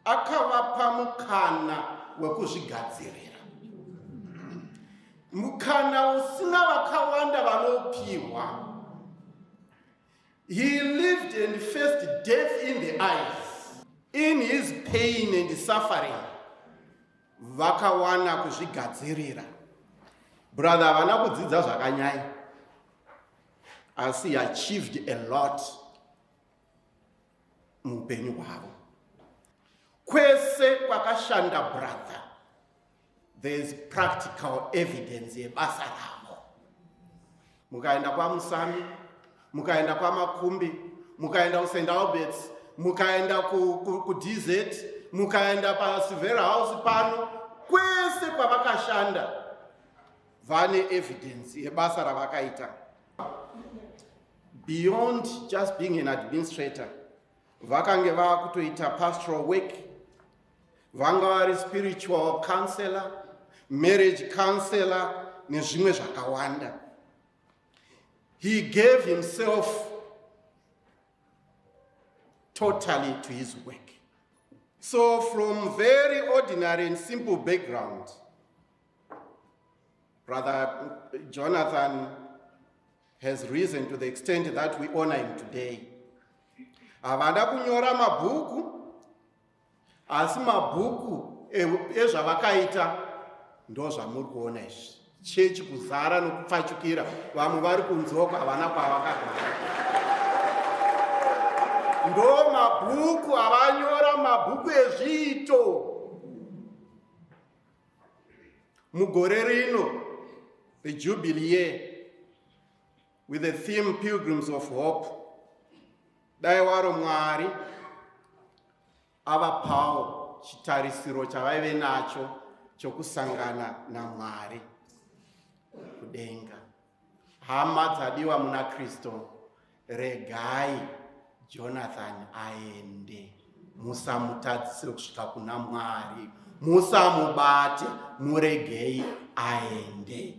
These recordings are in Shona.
akavapa mukana wekuzvigadzirira mukana usina vakawanda vanopiwa he lived and faced death in the eyes in his pain and suffering vakawana kuzvigadzirira brother havana kudzidza zvakanyaya asi achieved a lot muupenyu hwavo kwese kwakashanda brother there is practical evidence yebasa ravo mukaenda kwamusami mukaenda kwamakumbi mukaenda kusaint alberts mukaenda kudz mukaenda pasilver house pano kwese kwavakashanda vane evidence yebasa ravakaita beyond just being an administrator vakange vava kutoita pastoral work vanga vari spiritual counselor marriage counselor nezvimwe zvakawanda he gave himself totally to his work so from very ordinary and simple background brother jonathan has risen to the extent that we honor him today havana kunyora mabhuku asi mabhuku ezvavakaita ndozvamuri kuona izvi chechi kuzara nokupfachukira vamwe vari kunzoko havana kwavakagara ndo mabhuku avanyora mabhuku ezviito mugore rino rejubilee With the theme Pilgrims of Hope, dai waro Mwari avapawo chitarisiro chavaive nacho chokusangana naMwari kudenga. Hama dzadiwa muna Kristo, regai Jonathan aende, musamutadzisire kusvika kuna Mwari, musamubate, muregei aende.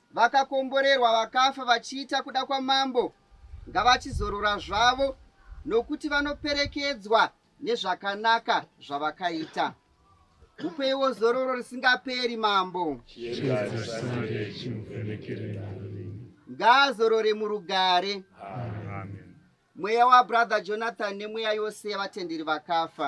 vakakomborerwa vakafa vachiita kuda kwamambo ngavachizorora zvavo nokuti vanoperekedzwa nezvakanaka zvavakaita mupeiwo zororo risingaperi mambo ngaazorore murugare Amen. mweya wabrother jonathan nemweya yose yevatenderi vakafa